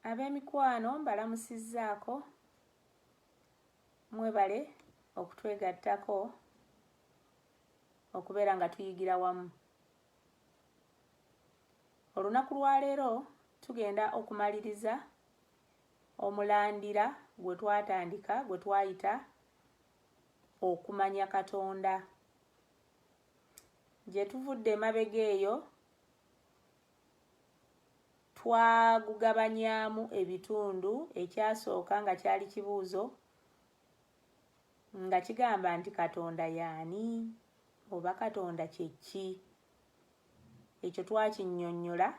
ab'emikwano mbalamusizzaako mwebale okutwegattako okubeera nga tuyigira wamu olunaku lwaleero tugenda okumaliriza omulandira gwe twatandika gwe twayita okumanya katonda gye tuvudde emabega eyo twagugabanyaamu ebitundu ekyasooka nga kyali kibuuzo nga kigamba nti katonda yaani oba katonda kyekki ekyo twakinnyonnyola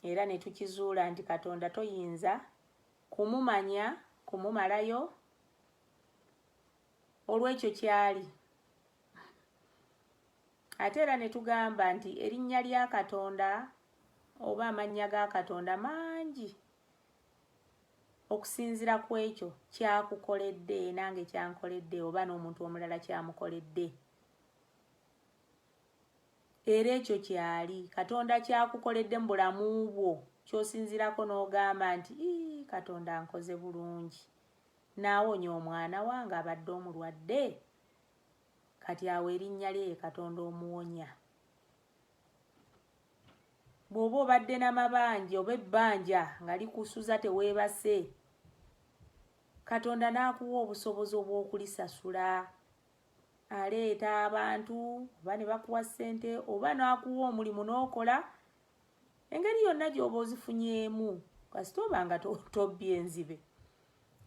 era ne tukizuula nti katonda toyinza kumumanya kumumalayo olw'ekyo ky'ali ate era ne tugamba nti erinnya lya katonda oba amannya ga katonda mangi okusinzira ku ekyo kyakukoledde nange kyankoledde oba n'omuntu omulala kyamukoledde era ekyo kyali katonda kyakukoledde mu bulamu bwo kyosinzirako n'ogamba nti katonda nkoze bulungi Naawonya omwana wange abadde omulwadde, kati awo erinnya lye ye Katonda Omuwonya. Bw'oba obadde n'amabanja oba ebbanja nga likusuza teweebase, Katonda n'akuwa obusobozi obw'okulisasula. Aleeta abantu oba ne bakuwa ssente oba n'akuwa omulimu n'okola engeri yonna gy'oba ozifunyeemu kasita oba nga tobbye enzibe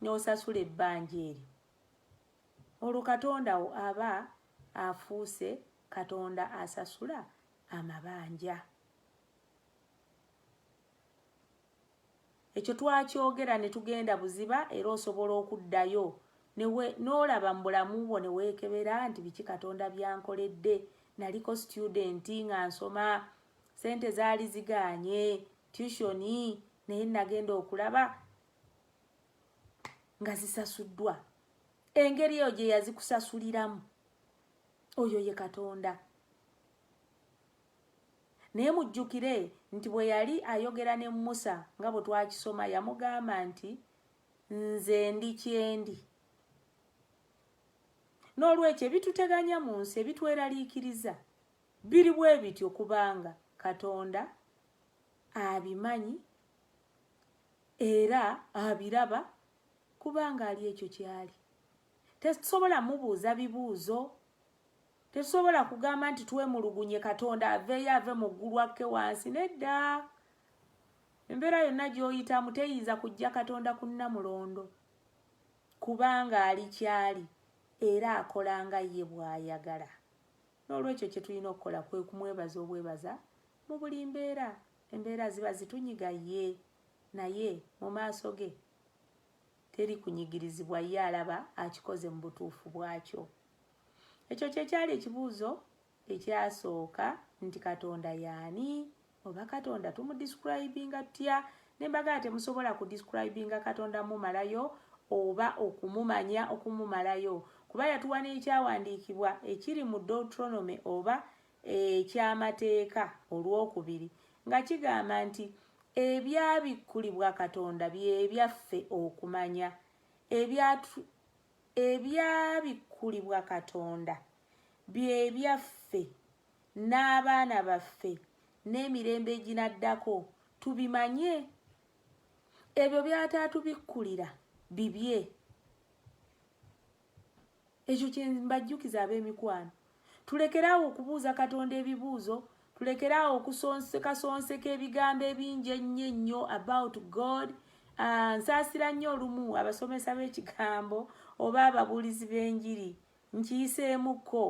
n'osasula ebbanja eryo olwo katonda wo aba afuuse katonda asasula amabanja ekyo twakyogera ne tugenda buziba era osobola okuddayo n'olaba mu bulamu bwo ne weekebera nti biki katonda byankoledde naliko situdenti nga nsoma sente zaali zigaanye tushoni naye nagenda okulaba nga zisasuddwa engeri eyo gye yazikusasuliramu oyo ye katonda naye mujjukire nti bwe yali ayogera ne musa nga bwe twakisoma yamugamba nti nze ndi kyendi n'olwekyo ebituteganya mu nsi ebitweraliikiriza Biri bwe bityo kubanga Katonda abimanyi era abiraba kubanga ali ekyo ky'ali. Tetusobola mubuuza bibuuzo, tetusobola kugamba nti twemulugunye Katonda aveeyo ave mu ggulu akke wansi, nedda. Embeera yonna gy'oyitamu teyinza kujja Katonda ku nnamulondo kubanga ali ky'ali era akola nga ye bw'ayagala. N'olwekyo kye tulina okukola kwe kumwebaza obwebaza mu buli mbeera. Embeera ziba zitunyiga? Yee. Naye mu maaso ge teri kunyigirizibwa. Ye alaba akikoze mu butuufu bwakyo. Ekyo kye kyali ekibuuzo ekyasooka nti, Katonda y'ani? oba katonda tumu describinga tutya nembagala temusobola ku describinga katonda mumalayo oba okumumanya okumumalayo kuba yatuwa n'ekyawandiikibwa ekiri mu deuteronomy oba ekyamateeka olwokubiri nga kigamba nti ebyabikkulibwa katonda byebyaffe okumanya ebyabikkulibwa katonda byebyaffe n'abaana baffe n'emirembe eginaddako tubimanye ebyo byataatubikkulira bibye ekyo kye mbajjukiza ab'emikwano tulekere awo okubuuza katonda ebibuuzo tulekere awo okusonsekasonseka ebigambo ebingi ennyo ennyo about god ah, nsaasira nnyo olumu abasomesa b'ekigambo oba ababuulizi b'enjiri nkiyiseemukko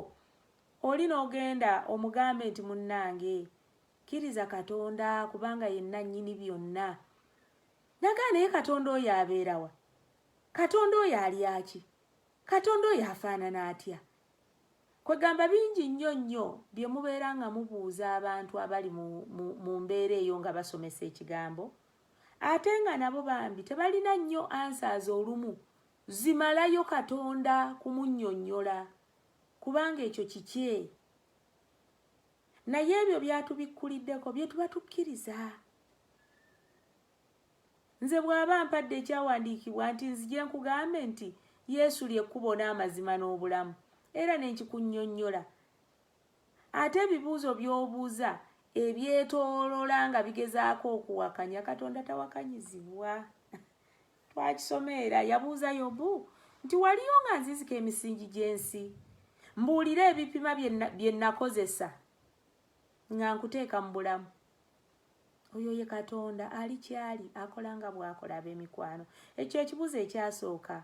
Oli n'ogenda omugambe nti munnange kkiriza Katonda kubanga ye nnannyini byonna. Nagaa naye Katonda oyo abeera wa? Katonda oyo alya ki? Katonda oyo afaanana atya? Kwegamba bingi nnyo nnyo bye mubeera nga mubuuza abantu abali mu, mu, mu mbeera eyo nga basomesa ekigambo ate nga nabo bambi tebalina nnyo ansaazi olumu zimalayo Katonda kumunyonyola. kubanga ekyo kikye naye ebyo byatubikkuliddeko bye tuba tukkiriza nze bw'aba mpadde ekyawandiikibwa nti nzije nkugambe nti yesu lyekkubo n'amazima n'obulamu era ne nkikunnyonnyola ate ebibuuzo by'obuuza ebyetoolola nga bigezaako okuwakanya katonda tawakanyizibwa twakisoma era yabuuza yobu nti waliyo nga nzizika emisingi gy'ensi mbuulire ebipima bye nakozesa nga nkuteeka mu bulamu oyo ye katonda ali kyali akola nga bwakola ab'emikwano ekyo ekibuuzo ekyasooka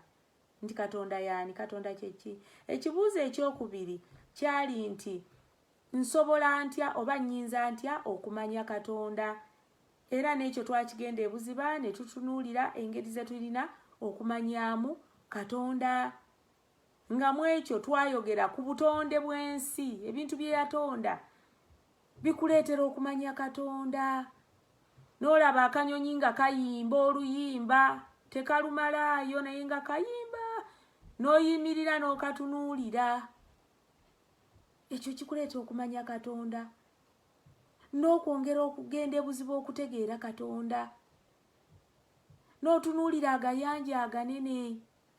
nti katonda yaani katonda kyeki ekibuuzo ekyokubiri kyali nti nsobola ntya oba nyinza ntya okumanya katonda Era n'ekyo twakigenda ebuziba ne tutunuulira engeri ze tulina okumanyaamu Katonda. Nga mu ekyo twayogera ku butonde bw'ensi, ebintu bye yatonda bikuleetera okumanya Katonda. N'olaba akanyonyi nga kayimba oluyimba, tekalumalaayo naye nga kayimba, n'oyimirira n'okatunuulira. Ekyo kikuleeta okumanya Katonda. n'okwongera okugenda ebuzibu okutegeera katonda n'otunuulira agayanja aganene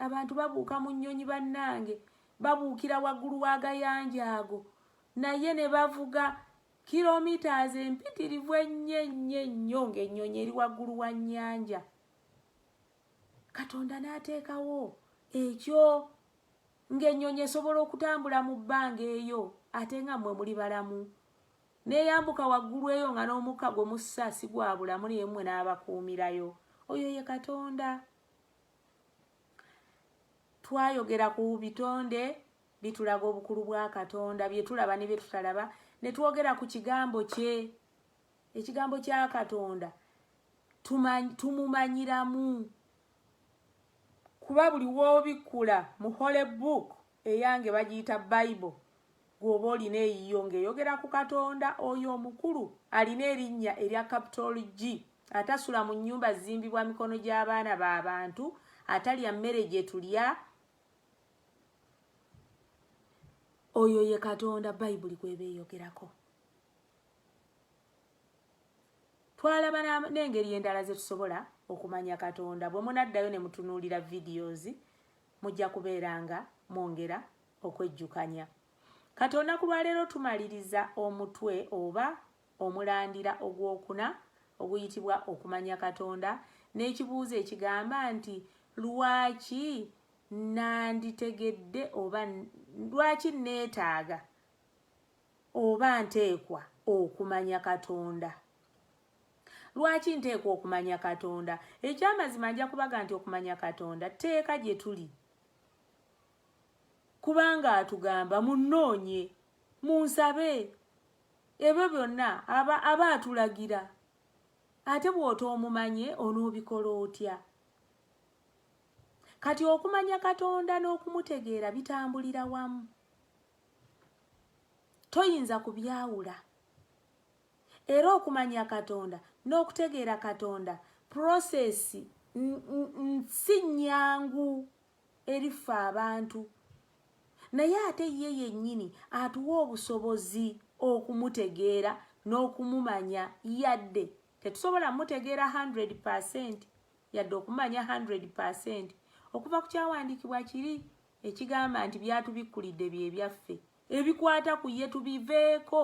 abantu babuuka mu nnyonyi bannange babuukira waggulu w'agayanja ago naye ne bavuga kilomitas empitirivu ennyo ennyo ennyo ng'ennyonyi eri waggulu wa nnyanja katonda n'ateekawo ekyo ng'ennyonyi esobola okutambula mu bbanga eyo ate nga mmwe muli balamu neeyambuka waggulu eyo nga n'omukka gwe mussa si gwa bulamu naye mmwe n'abakuumirayo oyo ye katonda twayogera ku bitonde bitulaga obukulu bwa katonda bye tulaba ne bye tutalaba ne twogera ku kigambo kye ekigambo kya katonda tumumanyiramu Kuba buli w'obikkula mu Holy Book, eyange bagiyita Bible, gw'oba olina eyiyo ng'eyogera ku Katonda oyo omukulu alina erinnya erya Capital G, atasula mu nnyumba zizimbibwa mikono gy'abaana ba bantu, atalya mmere gye tulya. Oyo ye Katonda Bayibuli gw'eba eyogerako. twalaba n'engeri endala ze tusobola okumanya katonda bwe munaddayo ne mutunuulira videos mujja kubeera nga mwongera okwejjukanya katonda ku lwaleero tumaliriza omutwe oba omulandira ogwokuna oguyitibwa okumanya katonda n'ekibuuzo ekigamba nti lwaki nanditegedde oba lwaki neetaaga oba nteekwa okumanya katonda lwaki nteekwa okumanya katonda ekyamazima nja kubaga nti okumanya katonda tteeka gye tuli kubanga atugamba munnoonye munsabe ebyo byonna aba aba atulagira ate bw'otoomumanye onoobikola otya kati okumanya katonda n'okumutegeera bitambulira wamu toyinza kubyawula era okumanya katonda n'okutegeera katonda prosesi si nnyangu eriffe abantu naye ate ye yennyini atuwa obusobozi okumutegeera n'okumumanya yadde tetusobola mutegeera 100 percent yadde okumanya 100 percent okuva ku kyawandiikibwa kiri ekigamba nti byatubikkulidde bye byaffe ebikwata ku ye tubiveeko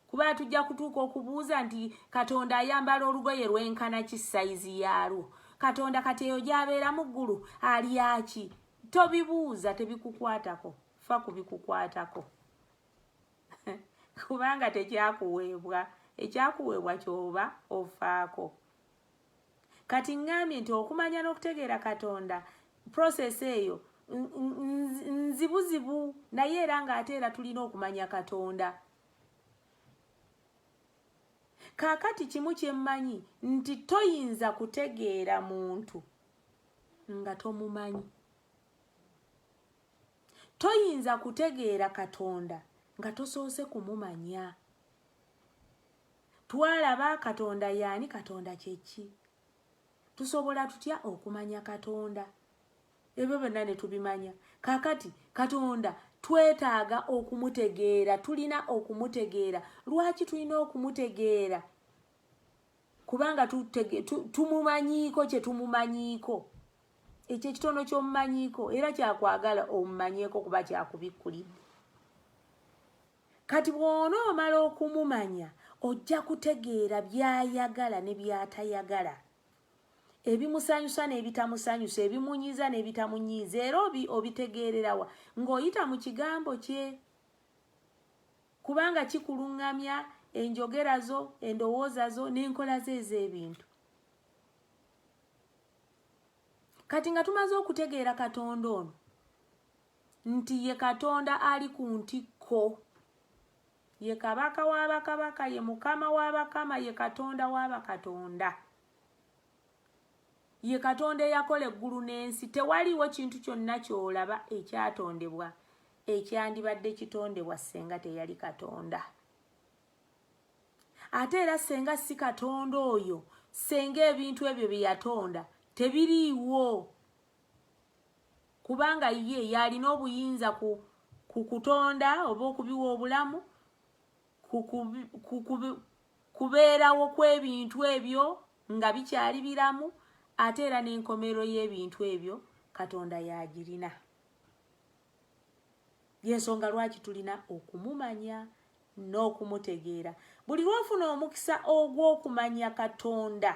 kuba tujja kutuuka okubuuza nti katonda ayambala olugoye lwenkana ki sayizi yaalwo katonda kati eyo gyabeera mu ggulu alyaki tobibuuza tebikukwatako fa ku bikukwatako kubanga tekyakuweebwa ekyakuweebwa kyoba ofaako kati ŋŋambye nti okumanya n'okutegeera katonda process eyo nzibuzibu naye era ng'ate era tulina okumanya katonda kaakati kimu kye mmanyi nti toyinza kutegeera muntu nga tomumanyi toyinza kutegeera katonda nga tosoose kumumanya twalaba katonda yaani katonda kyeki tusobola tutya okumanya katonda ebyo byonna ne tubimanya kakati katonda twetaaga okumutegeera tulina okumutegeera lwaki tulina okumutegeera kubanga tumumanyiiko kye tumumanyiiko ekyo ekitono ky'omumanyiiko era kyakwagala omumanyeeko kuba kyakubikkulidde kati bwona omala okumumanya ojja kutegeera byayagala ne byatayagala ebimusanyusa n'ebitamusanyusa ebimunyiiza n'ebitamunyiiza era obi obitegeererawa ng'oyita mu kigambo kye kubanga kikuluŋŋamya enjogera zo endowooza zo n'enkola ze ez'ebintu kati nga tumaze okutegeera katonda ono nti ye katonda ali ku ntikko ye kabaka wa bakabaka ye mukama wa bakama ye katonda wa bakatonda ye katonda eyakola eggulu n'ensi tewaliwo kintu kyonna ky'olaba ekyatondebwa ekyandibadde kitondebwa ssenga teyali katonda ate era ssenga si katonda oyo ssenga ebintu ebyo bye yatonda tebiriiwo kubanga ye yalina obuyinza ku ku kutonda oba okubiwa obulamu kubeerawo kw'ebintu ebyo nga bikyali biramu ate era n'enkomerero y'ebintu ebyo katonda yagirina yensonga lwaki tulina okumumanya n'okumutegeera buli lwofuna omukisa ogw'okumanya katonda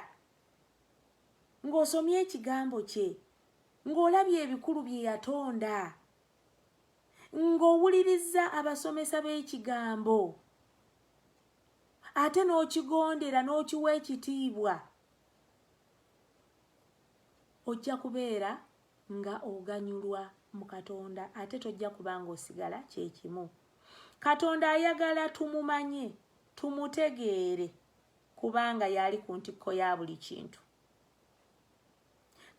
ng'osomye ekigambo kye ng'olabye ebikulu bye yatonda ng'owulirizza abasomesa b'ekigambo ate n'okigondera n'okiwa ekitiibwa ojja kubeera nga oganyulwa mu katonda ate tojja kuba ng'osigala kyekimu katonda ayagala tumumanye tumutegeere kubanga yaali ku ntikko ya buli kintu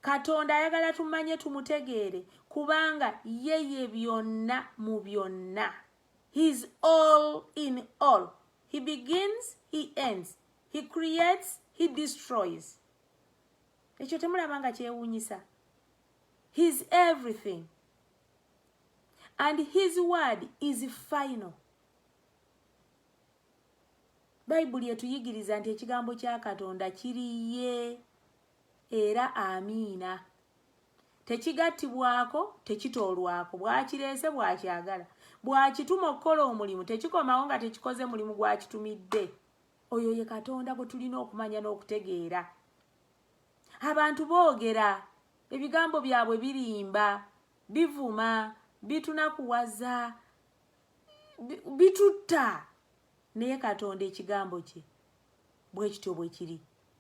katonda ayagala tumanye tumutegeere kubanga yeye byonna mu byonna heis all in all he begins he ends he creates he destroys ekyo temulaba nga kyewuunyisa heis everything and his word is final bayibuli etuyigiriza nti ekigambo kya katonda kiri ye era amiina tekigattibwako tekitoolwako bwakireese bwakyagala bwakituma okukola omulimu tekikomawo nga tekikoze mulimu gwakitumidde oyo ye katonda gwe tulina okumanya n'okutegeera abantu boogera ebigambo byabwe birimba bivuma bitunakuwaza bitutta naye katonda ekigambo kye bwe kityo bwe kiri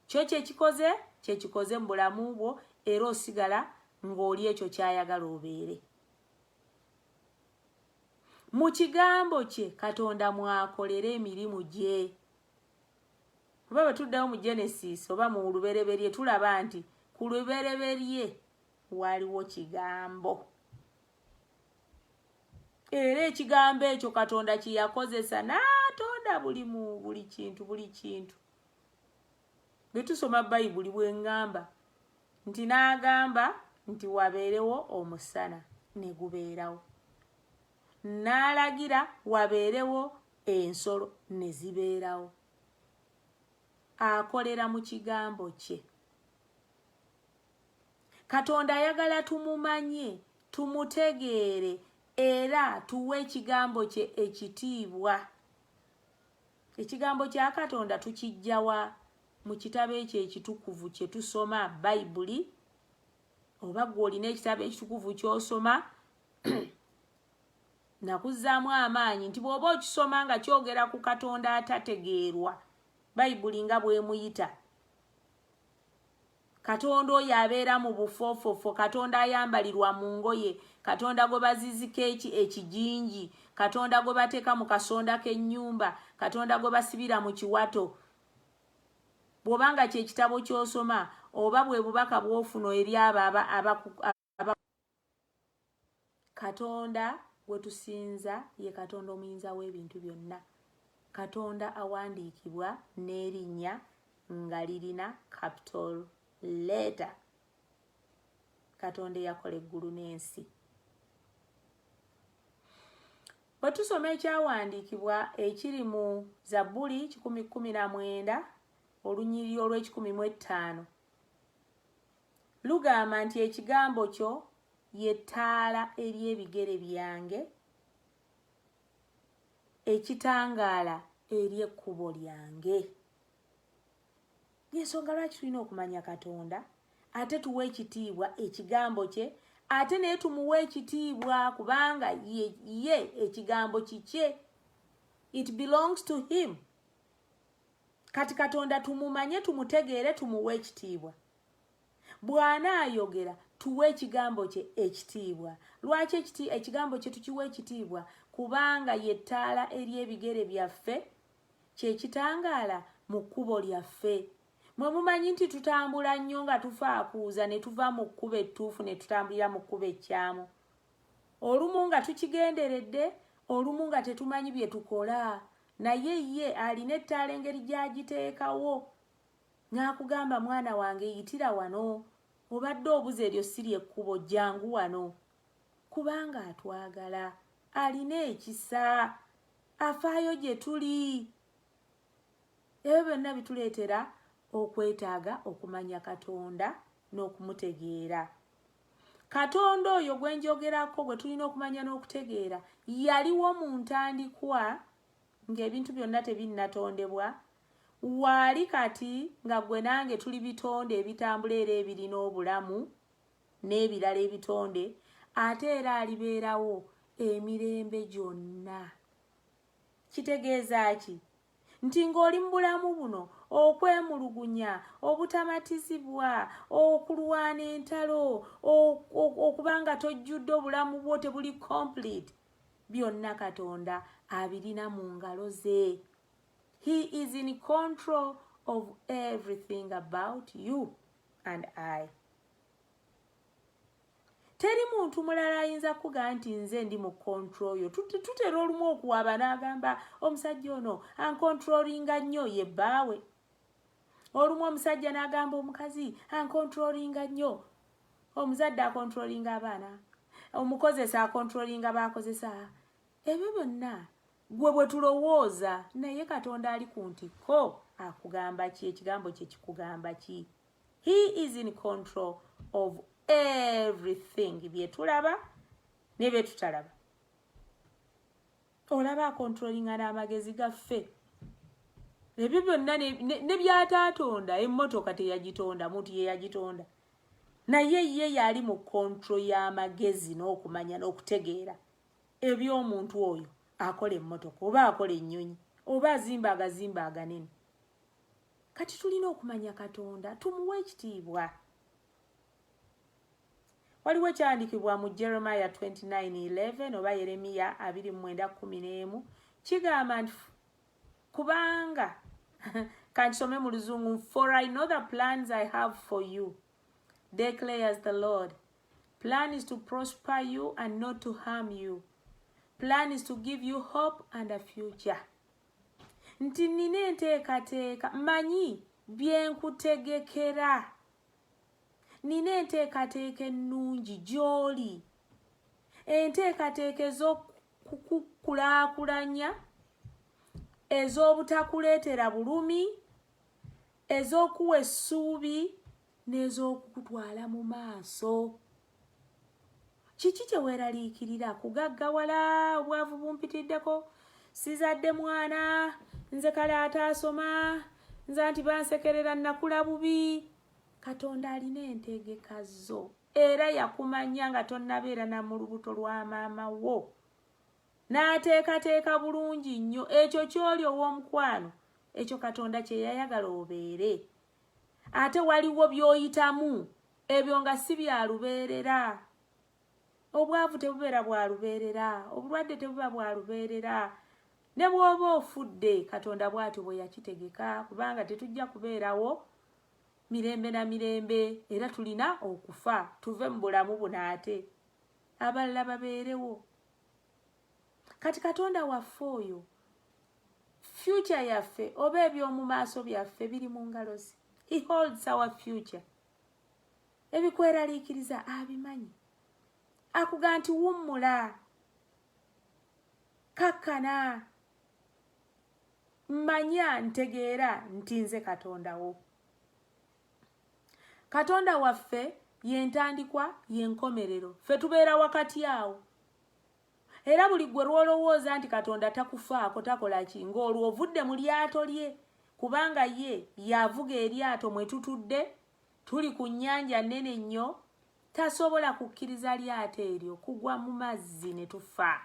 kyo kyekikoze kyekikoze mu bulamu bwo era osigala ng'oli ekyo kyayagala obeere mu kigambo kye katonda mwakolera emirimu gye oba bwe tuddawo mu genesis oba mu lubereberye tulaba nti ku lubereberye waliwo kigambo era ekigambo ekyo katonda kyeyakozesa n'atonda buli mu buli kintu buli kintu bwe tusoma bayibuli bwe ngamba nti n'agamba nti wabeerewo omusana ne gubeerawo n'alagira wabeerewo ensolo ne zibeerawo akolera mu kigambo kye katonda ayagala tumumanye tumutegeere era tuwe ekigambo kye ekitiibwa ekigambo kya katonda tukijjawa mu kitabo ekyo ekitukuvu kye tusoma bayibuli oba gwe olina ekitabo ekitukuvu kyosoma nakuzzaamu amaanyi nti bw'oba okisoma nga kyogera ku katonda atategeerwa bayibuli nga bwemuyita katonda oyo abeera mu bufoofofo katonda ayambalirwa mu ngoye katonda gwe bazizika eki ekijinji katonda gwe bateeka mu kasonda k'ennyumba katonda gwe basibira mu kiwato bw'oba nga ky'ekitabo ky'osoma oba bwe bubaka bw'ofuna eri abo katonda gwetusinza ye katonda omuyinza w'ebintu byonna katonda awandiikibwa n'erinnya nga lirina capital leeta katonda eyakola eggulu n'ensi bwe tusoma ekyawandiikibwa ekiri mu zabbuli kikumi kumi na mwenda olunyiriri olw'ekikumi mu ettaano Lugamba nti ekigambo kyo ye ttaala eri ebigere byange, ekitangaala eri ekkubo lyange. Yensonga lwaki tulina okumanya Katonda ate tuwa ekitiibwa ekigambo kye ate naye tumuwa ekitiibwa kubanga ye, ye ekigambo kikye it belongs to him kati katonda tumumanye tumutegeere tumuwe ekitiibwa bw'anaayogera tuwe ekigambo kye ekitiibwa lwaki ekigambo kye tukiwa ekitiibwa kubanga ye ttaala eri ebigere byaffe kye kitangaala mu kkubo lyaffe mwe mumanyi nti tutambula nnyo nga tufaakuuza ne tuva mu kkubo ettuufu ne tutambulira mu kkubo ekkyamu olumu nga tukigenderedde olumu nga tetumanyi bye tukola naye ye alina ettaala engeri gy'agiteekawo n'akugamba mwana wange yitira wano obadde obuza eryo siri ekkubo jangu wano kubanga atwagala alina ekisa afaayo gye tuli ebyo byonna bituleetera okwetaaga okumanya katonda n'okumutegeera katonda oyo gwe njogerako gwe tulina okumanya n'okutegeera yaliwo mu ntandikwa ng'ebintu byonna tebinnatondebwa Waali kati nga ggwe nange tuli bitonde ebitambula era ebirina obulamu n'ebirala ebitonde, ate era alibeerawo emirembe gyonna. Kitegeeza ki? Nti ng'oli mu bulamu buno, okwemulugunya, obutamatizibwa, okulwana entalo, okuba nga tojjudde obulamu bwo tebuli complete, byonna Katonda abirina mu ngalo ze. He is in control of everything about you and I. Teri muntu mulala ayinza kuga nti nze ndi mu control yo. Tutera olumu okuwaba n'agamba omusajja ono ankontrolinga nnyo ye bbaawe. Olumu omusajja n'agamba omukazi ankontrolinga nnyo. Omuzadde akontrolinga abaana. Omukozesa akontrolinga baakozesa. Ebyo byonna Gwe bwe tulowooza naye Katonda ali ku ntikko akugamba ki ekigambo kye kikugamba ki he is in control of everything bye tulaba ne bye tutalaba olaba akontrolinga n'amagezi gaffe ebyo byonna ne byataatonda emmotoka teyagitonda muntu ye yagitonda naye ye yali mu kontro y'amagezi n'okumanya n'okutegeera ebyomuntu oyo akola emmotoka oba akola ennyonyi oba azimba agazimba aganene kati tulina okumanya katonda tumuwa ekitiibwa waliwo ekyandikibwa mu jeremiya 2911 oba yeremiya 2911 kigamba nti kubanga kankisome mu luzungu for i know the plans i have for you declares the lord plan is to prosper you and not to harm you plan is to give you hope and a future nti nina enteekateeka manyi byenkutegekera nina enteekateeka ennungi gy'oli enteekateeka ez'okukulaakulanya ez'obutakuleetera bulumi ez'okuwa essuubi n'ez'okukutwala mu maaso kiki kyeweraliikirira kugaggawala obwavu bumpitiddeko sizadde mwana nze kale ataasoma nza nti bansekerera nakula bubi katonda alina entegeka zo era yakumanya nga tonnabeera na mu lubuto lwa maama wo n'ateekateeka bulungi nnyo ekyo ky'oli ow'omukwano ekyo katonda kye yayagala obeere ate waliwo byoyitamu ebyo nga si byalubeerera obwavu tebubeera bwalubeerera obulwadde tebuba bwalubeerera ne bwoba ofudde katonda bwatyo bwe yakitegeka kubanga tetujja kubeerawo mirembe na mirembe era tulina okufa tuve mu bulamu buno ate abalala babeerewo kati katonda waffe oyo future yaffe oba ebyomu maaso byaffe biri mu ngalo ze he holds our future ebikweraliikiriza abimanyi akuga nti wummula kakkana manya ntegeera nti nze katondawo katonda waffe yentandikwa yenkomerero fe tubeera wakati awo era buli gwe lwolowooza nti katonda takufaako takola ki ng'olwo ovudde mu lyato lye kubanga ye yavuga eryato mwe tutudde tuli ku nnyanja nnene nnyo tasobola kukkiriza lyato eryo kugwa mu mazzi ne tufa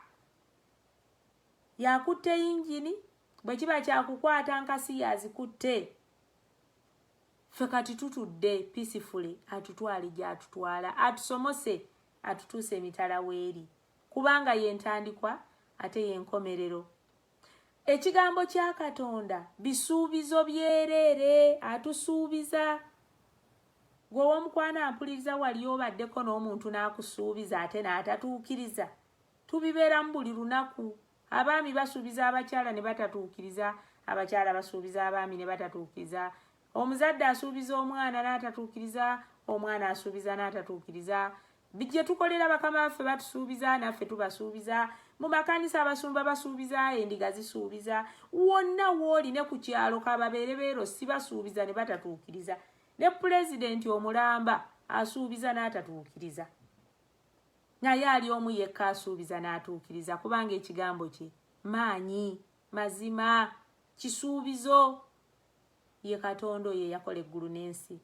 yakutte yingini bwe kiba kyakukwata nkasi yazikutte ffe kati tutudde pisifule atutwale gy'atutwala atusomose atutuusa emitala w'eri kubanga ye ntandikwa ate ye nkomerero ekigambo kya katonda bisuubizo byereere atusuubiza gwewomukwano ampuliriza wali obaddeko n'omuntu n'akusuubiza ate n'atatuukiriza tubibeeramu buli lunaku abaami basuubiza abakyala ne batatuukiriza abakyala basuubiza abaami ne batatuukiriza omuzadde asuubiza omwana n'atatuukiriza omwana asuubiza n'atatuukiriza gye tukolera bakama baffe batusuubiza naffe tubasuubiza mu makanisa abasumba basuubiza endiga zisuubiza wonna wooli ne ku kyalo kababeere beero sibasuubiza ne batatuukiriza ne pulezidenti omulamba asuubiza n'atatuukiriza naye ali omu yekka asuubiza n'atuukiriza kubanga ekigambo kye maanyi mazima kisuubizo ye katonda oyo eyakola eggulu n'ensi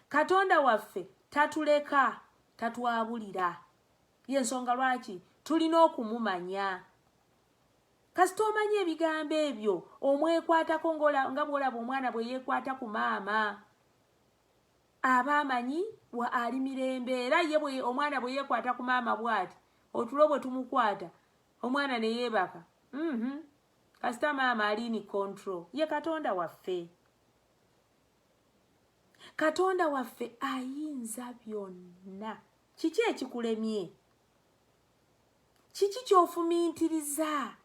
katonda waffe tatuleka tatwabulira yensonga lwaki tulina okumumanya kasita omanya ebigambo ebyo omwekwatako nga bwolaba omwana bwe yekwata ku maama aba amanyi wa ali mirembe era ye omwana bwe yekwata ku maama bwati otulo bwe tumukwata omwana ne yeebaka mm -hmm. kasita maama alini control ye katonda waffe katonda waffe ayinza byonna kiki ekikulemye kiki kyofumintiriza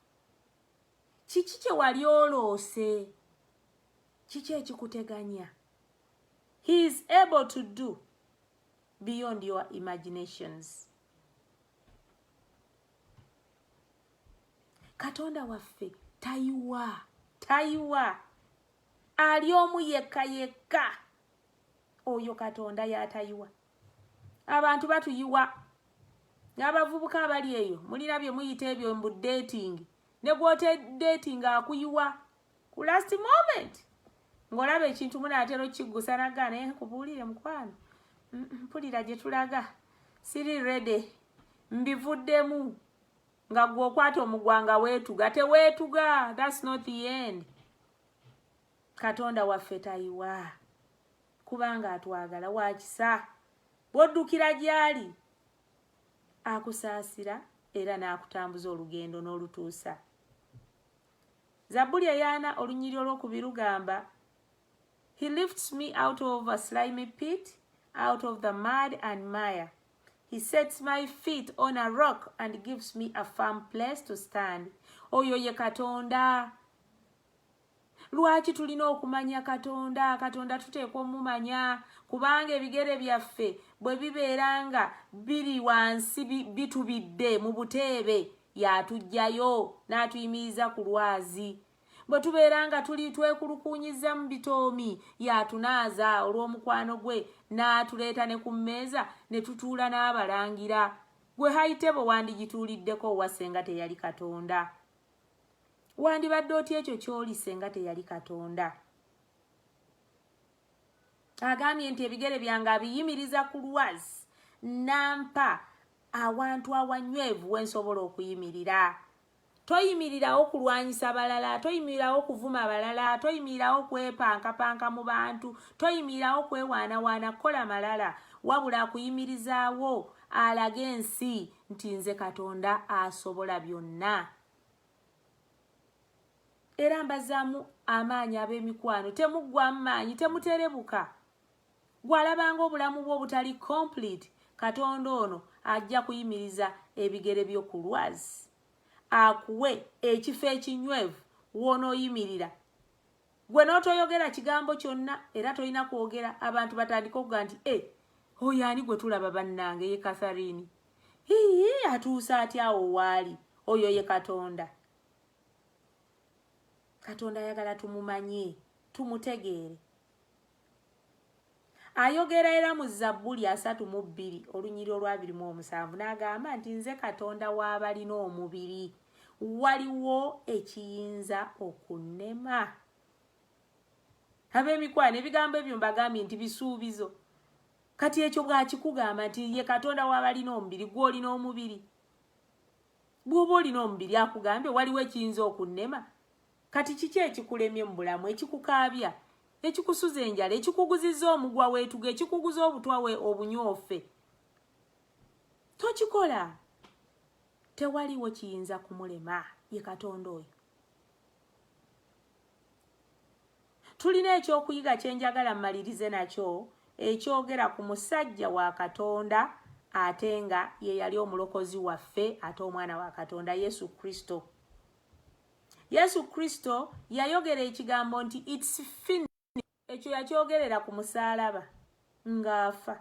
kiki kyewali oloose kiki ekikuteganya he is able to do beyond your imaginations katonda waffe tayiwa tayiwa ali omu yekka yekka oyo katonda yatayiwa abantu batuyiwa n'abavubuka abali eyo mulina bye muyita ebyo mbu dating ne gw'otedating akuyiwa ku last moment ng'olaba ekintu munaatera okukiggusa naga naye kubuulire mukwano mpulira gye tulaga siri rede mbivuddemu nga gwe okwata omugwa nga weetuga teweetuga thats not the end katonda waffe tayiwa kubanga atwagala wakisa bwoddukira gyali akusaasira era n'akutambuza olugendo n'olutuusa zabbuli eyaana olunyiri olwokubiri lugamba he lifts me out of a slimy pit out of the mud and mire He sets my feet on a rock and gives me a firm place to stand. Oyo ye Katonda. Lwaki tulina okumanya Katonda? Katonda tuteekwa omumanya kubanga ebigere byaffe bwe bibeera nga biri wansi bitubidde mu buteebe yatujjayo n'atuyimiriza ku lwazi bwe tubeera nga tuli twekulukuunyiza mu bitoomi y'atunaaza olw'omukwano gwe n'atuleeta ne ku mmeeza ne tutuula n'abalangira gwe hayitebo wandigituuliddeko owa senga teyali katonda wandibadde otya ekyo ky'oli senga teyali katonda agambye nti ebigere byange abiyimiriza ku lwazi nampa awantu awanywevu wensobola okuyimirira toyimirirawo kulwanyisa balala toyimirirawo kuvuma balala toyimirirawo kwepankapanka mu bantu toyimirirawo kwewaanawaana kukola malala wabula akuyimirizaawo alage ensi nti nze katonda asobola byonna era mbazaamu amaanyi ab'emikwano temuggwamu maanyi temuterebuka Gwalabanga obulamu bwo obutali complete katonda ono ajja kuyimiriza ebigere byo ku lwazi akuwe ekifo ekinywevu wonooyimirira gwe n'otoyogera kigambo kyonna era tolina kwogera abantu batandika okuga nti e oyo ani gwe tulaba bannange ye katharine hiyi atuuse atya awo waali oyo ye katonda katonda ayagala tumumanye tumutegeere ayogera era mu zabbuli asatu mu bbiri olunyiri olwabiri mu omusanvu n'agamba nti nze katonda w'abalina omubiri waliwo ekiyinza okunnema ab'emikwano ebigambo ebyo mbagambye nti bisuubizo kati ekyo bwakikugamba nti ye katonda w'abalina omubiri gw'olina omubiri bw'oba olina omubiri akugambye waliwo ekiyinza okunnema Kati kiki ekikulemye mu bulamu, ekikukaabya, ekikusuza enjala, ekikuguziza omugwa weetuga, ekikuguza obutwa we obunyoofe? Tokikola. Tewaliwo kiyinza kumulema ye Katonda oyo. Tulina ekyokuyiga kye njagala mmalirize nakyo ekyogera ku musajja wa Katonda ate nga ye yali omulokozi waffe ate omwana wa Katonda Yesu Kristo. Yesu Kristo yayogera ekigambo nti it's fin ekyo yakyogerera ku musaalaba ng'afa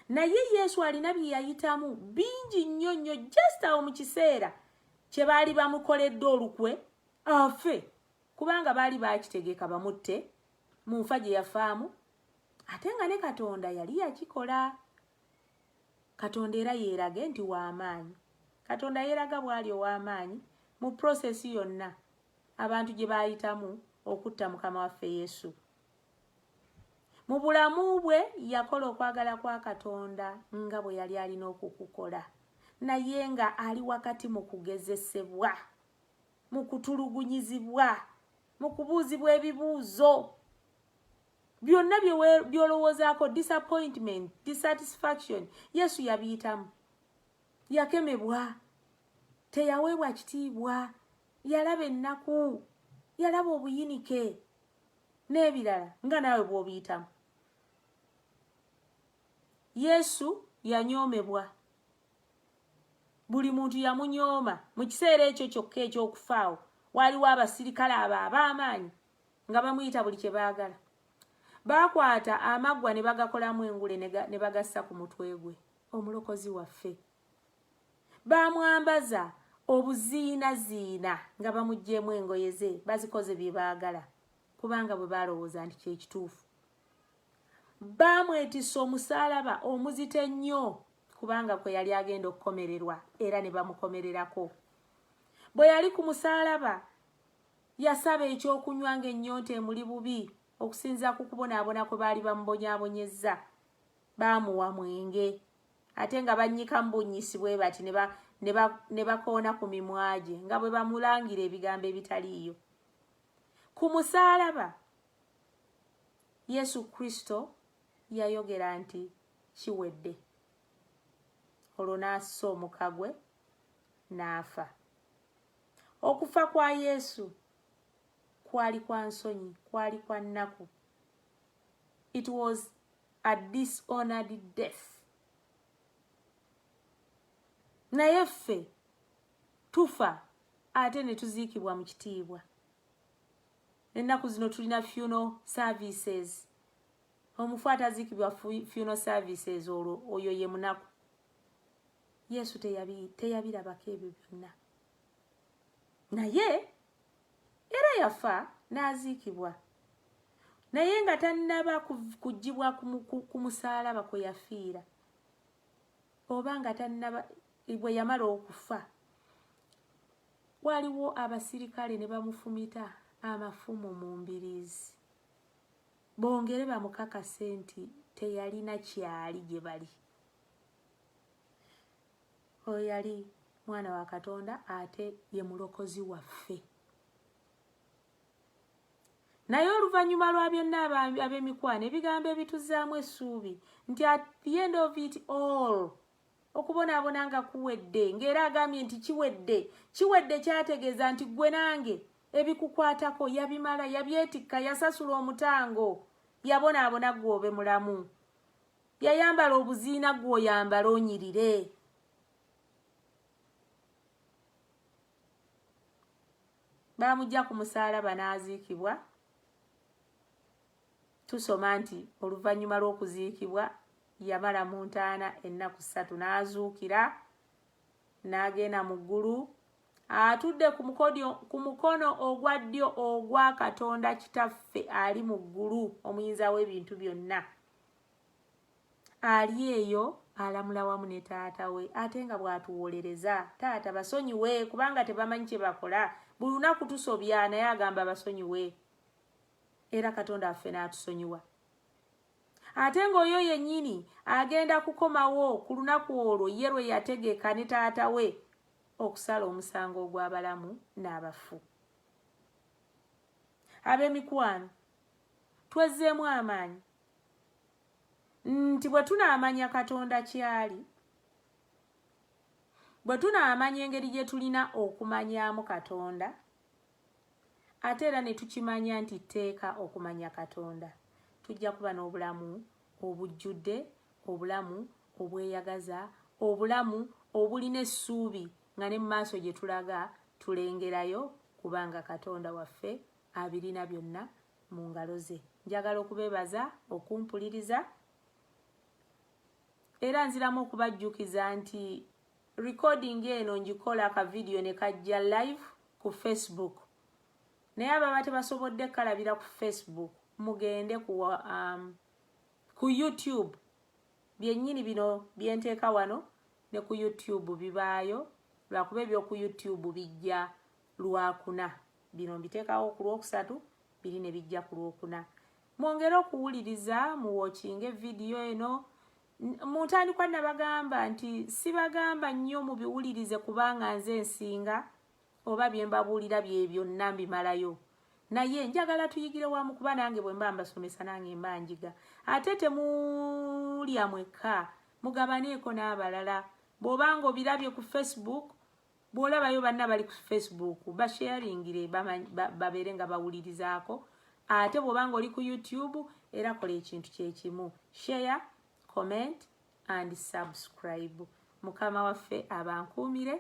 naye Yesu alina bye yayitamu bingi nnyo nnyo just awo mu kiseera kye baali bamukoledde olukwe afe kubanga baali baakitegeka bamutte mu nfa gye yafaamu ate nga ne Katonda yali yakikola katonda era yeerage nti w'amaanyi katonda yeeraga bw'ali ow'amaanyi mu prosesi yonna abantu gye baayitamu okutta mukama waffe yesu mu bulamu bwe yakola okwagala kwa katonda nga bwe yali alina okukukola naye nga ali wakati mu kugezesebwa mu kutulugunyizibwa mu kubuuzibwa ebibuuzo byonna byolowoozaako disappointment dissatisfaction yesu yabiyitamu yakemebwa teyaweebwa kitiibwa yalaba ennaku yalaba obuyinike n'ebirala nga naawe bw'obiyitamu yesu yanyoomebwa buli muntu yamunyooma mu kiseera ekyo kyokka eky'okufaawo waaliwo abasirikale abo ab'amaanyi nga bamuyita buli kye baagala baakwata amaggwa ne bagakolamu engule ne bagassa ku mutwe gwe omulokozi waffe baamwambaza obuziinaziina nga bamugyemu engoye ze bazikoze bye baagala kubanga bwe baalowooza nti kyekituufu baamwetisa omusaalaba omuzito ennyo kubanga kwe yali agenda okukomererwa era ne bamukomererako bwe yali ku musaalaba Yasaba eky'okunywa ng'ennyonta emuli bubi okusinzira ku kubonaabona kwe baali bamubonyaabonyezza. Baamuwa mwenge ate nga bannyikamu bunnyisi bwe bati ne bakoona ku mimwa gye nga bwe bamulangira ebigambo ebitaliiyo. Ku musaalaba, Yesu Kristo yayogera nti kiwedde olwo n'assa omuka gwe n'afa. okufa kwa yesu kwali kwa nsonyi kwali kwa nnaku it was a dishonored death naye ffe tufa ate ne tuziikibwa mu kitiibwa ennaku zino tulina funeral services omufu ataziikibwa funeral services olwo oyo ye munaku yesu teyabirabako ebyo byonna naye era yafa n'aziikibwa naye nga tannaba kugibwa ku musaalaba kwe yafiira oba nga tannaba bwe yamala okufa waliwo abasirikale ne bamufumita amafumu mu mbiriizi bongere bamukakase nti teyalina kyali gye bali oyo yali mwana wa katonda ate ye mulokozi waffe naye oluvannyuma lwa byonna ab'emikwano ebigambo ebituzaamu essuubi nti at the end of it all okubonaabona nga kuwedde ng'era agambye nti kiwedde kiwedde kyategeeza nti ggwe nange ebikukwatako yabimala yabyetikka yasasula omutango yabonaabona gwobe mulamu yayambala obuziina gwoyambala onyirire bamujja ku musaalaba n'aziikibwa tusoma nti oluvannyuma lw'okuziikibwa yamala mu ntaana ennaku ssatu n'azuukira n'agenda mu ggulu atudde ku mukono ogwa ddyo ogwa katonda kitaffe ali mu ggulu omuyinza w'ebintu byonna ali eyo alamula wamu ne taata we ate nga bwatuwolereza taata basonyiwe kubanga tebamanyi kyebakola buli lunaku tusobya naye agamba basonyiwe era katonda affe n'atusonyiwa ate ng'oyo yennyini agenda kukomawo ku lunaku olwo ye lwe yategeka ne taata we okusala omusango ogw'abalamu n'abafu ab'emikwano twezzeemu amaanyi nti bwe tunaamanya katonda kyali bwe tunaamanya engeri gye tulina okumanyaamu katonda ate era ne tukimanya nti tteeka okumanya katonda tujja kuba n'obulamu obujjudde obulamu obweyagaza obulamu obulina essuubi nga ne mu maaso gye tulaga tulengerayo kubanga katonda waffe abirina byonna mu ngalo ze njagala okubeebaza okumpuliriza era nziramu okubajjukiza nti recording eno ngikola akavidiyo ne kajja live ku facebook naye ababa tebasobodde kalabira ku facebook mugende ku, um, ku youtube byennyini bino byenteeka wano ne ku youtube bibaayo lwakuba ebyoku youtube bijja lwakuna bino mbiteekawo ku lwokusatu biri ne bijja ku lwokuna mwongere okuwuliriza muwokinge vidiyo eno mu ntandikwa nabagamba nti sibagamba nnyo mubiwulirize kubanga nze ensinga oba bye mbabuulira bye byonna mbimalayo naye njagala tuyigire wamu kuba nange bwe mba mbasomesa nange mba njiga ate temulya mwekka mugabaneeko n'abalala bw'oba nga obirabye ku facebook bwolabayo banna bali ku facebook basharingire babeere nga bawulirizaako ate bwobanga oli ku youtube era kola ekintu kyekimu share comment and subscribe mukama waffe abankuumire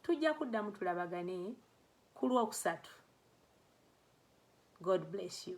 tujja kuddamu tulabagane ku lwokusatu god bless you